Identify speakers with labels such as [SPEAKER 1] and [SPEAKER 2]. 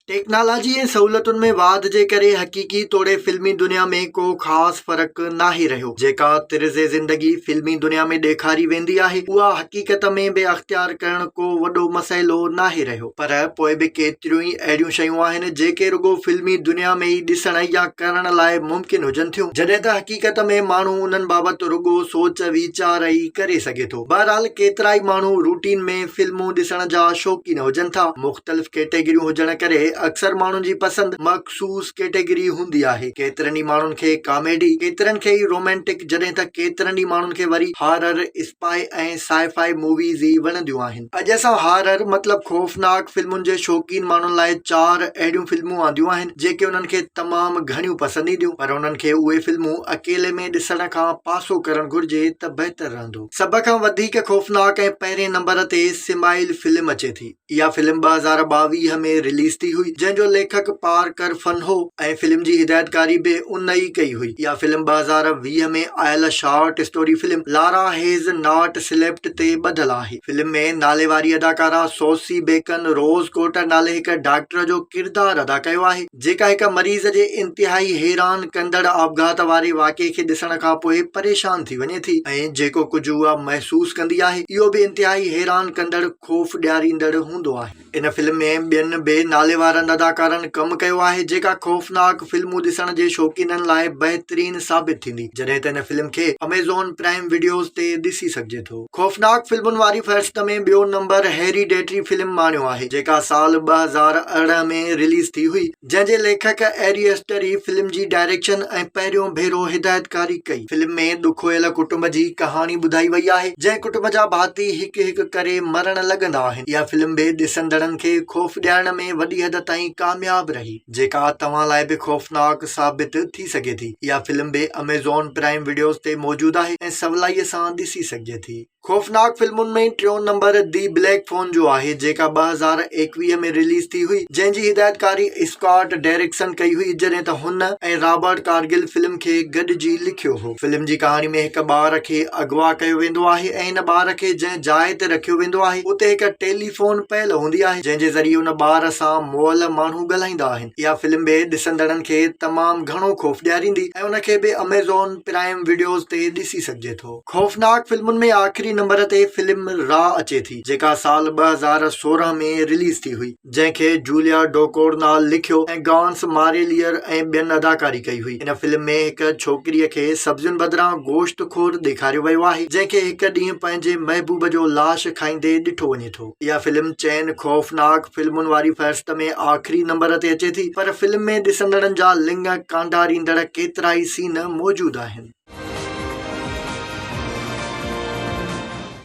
[SPEAKER 1] Technology ۽ سهولتن ۾ واڌ جي ڪري حقيقي توڙي فلمي دنيا ۾ ڪو خاص فرق ناهي رهيو. جيڪا طرز زندگي فلمي دنيا ۾ ڏيکاري ويندي آهي، اها حقيقت ۾ به اختيار ڪرڻ ڪو وڏو مسئلو ناهي رهيو. پر پوء به ڪيتريون ئي اهڙيون شيون آهن، جيڪي رڳو فلمي دنيا ۾ ئي ڏسڻ يا ڪرڻ لاء ممڪن هجن ٿيون، جڏهن ته حقيقت ۾ ماڻهو انهن بابت رڳو سوچ ويچار ئي ڪري سگهي ٿو. بهرحال ڪيترائي ماڻهو روٽين ۾ فلمون ڏسڻ جا شوقين هجن ٿا. مختلف ڪيٽيگريون هجڻ ڪري اڪثر ماڻهن جي پسند مخصوص ڪيٽيگري هوندي آهي. ڪيترن ئي ماڻهن کي ڪاميڊي، ڪيترن کي ئي رومانٽڪ جڏهن ته ڪيترن ئي ماڻهن کي وري هارر، اسپائي ۽ سائي فائي موويز ئي وڻنديون آهن. اڄ اسان هارر مطلب خوفناڪ فلمن جي شوقين ماڻهن لاء چار اهڙيون فلمون آنديون آهن جيڪي انهن کي تمام گهڻيون پسند اينديون پر انهن کي اهي فلمون اڪيلي ۾ ڏسڻ کان پاسو ڪرڻ گهرجي ته بهتر رهندو. هوندو. سڀ کان وڌيڪ خوفناڪ ۽ پهرين نمبر تي سمائيل فلم اچي ٿي. اها فلم ٻه هزار ٻاويهه ۾ رليز ٿي هئي جنهن جو ليکڪ پارڪر فن هو ۽ فلم جي هدايتڪاري به ان ئي ڪئي هئي. اها فلم ٻه هزار ويهه ۾ آيل short story film Lara has not slept تي ٻڌل آهي. فلم ۾ ناليواري اداڪارا سوسي بيڪن روز ڪوٽر نالي هڪ ڊاڪٽر جو ڪردار ادا ڪيو آهي. جيڪا هڪ مريض جي انتهائي حيران ڪندڙ آپگهات واري واقعي کي ڏسڻ کان پوء پريشان ٿي وڃي ٿي ۽ جيڪو ڪجهه اها محسوس ڪندي آهي اهو به انتهائي حيران ڪندڙ خوف ڏياريندڙ هوندو آهي. ان فلم ۾ ٻين به ناليوارن اداڪارن ڪم ڪيو آهي جيڪا خوفناڪ فلمون ڏسڻ جي شوقينن لاء بهترين ثابت ٿيندي جڏهن ته ان فلم کي اميزون پرائم وڊيوز تي ڏسي سگهجي ٿو. خوفناڪ فلمن واري فهرست ۾ ٻيو نمبر هيريڊيٽري فلم ماڻيو آهي، جيڪا سال ٻه هزار ارڙهن ۾ رليز ٿي هئي، جنهن جي ليکڪ اري اسٽر ئي فلم جي ڊائريڪشن ۽ پهريون ڀيرو هدايتڪاري ڪئي. فلم ۾ ڏکويل ڪٽنب جي ڪهاڻي ٻڌائي وئي آهي، جنهن ڪٽنب جا ڀاتي هڪ هڪ ڪري مرڻ لڳندا آهن. اها فلم به ڏسندڙن کي خوف ڏيارڻ ۾ وڏي حد تائين ڪامياب رهي. جيڪا توهان لاء به خوفناڪ ثابت ٿي سگهي ٿي. اها فلم به اميزون پرائيم وڊيوز تي موجود آهي ۽ سولائيء سان ڏسي سگهجي ٿي. خوفناڪ فلمن ۾ ٽيون نمبر دي بليڪ فون جو آهي، جيڪا ٻه هزار ايڪويهه ۾ رليز ٿي هئي، جنهن جي هدايتڪاري اسڪاٽ ڊيرڪسن ڪئي هئي، جڏهن ته هن ۽ رابرٽ ڪارگل فلم کي گڏجي لکيو هو. فلم جي ڪهاڻي ۾ هڪ ٻار کي اغوا ڪيو ويندو آهي ۽ ان ٻار کي جنهن جاء تي رکيو ويندو آهي، اتي هڪ ٽيلي. فون پيل هوندي آهي جنهن جي ذريعي ان ٻار سان مئل ماڻهو ڳالهائيندا آهن. اها فلم به ڏسندڙن کي تمام گهڻو خوف ڏياريندي ۽ ان کي به اميزون پرائيم وڊيوز تي ڏسي سگهجي ٿو. خوفناڪ فلمن ۾ آخري نمبر تي فلم راء اچي ٿي جيڪا سال ٻه هزار سورهن ۾ رليز ٿي هئي جنهن کي جوليا ڊوڪورنال لکيو ۽ گانس ماريليئر ۽ ٻين اداڪاري ڪئي هئي. هن فلم ۾ هڪ ڇوڪريء کي سبزين بدران گوشت خور ڏيکاريو ويو آهي، جنهن کي هڪ ڏينهن پنهنجي محبوب جو لاش کائيندي ڏٺو وڃي ٿو. اها فلم چئن خوفناڪ فلمن واري فهرست ۾ آخري نمبر تي اچي ٿي، پر فلم ۾ ڏسندڙن جا لڱ ڪانڊاريندڙ ڪيترائي سين موجود آهن.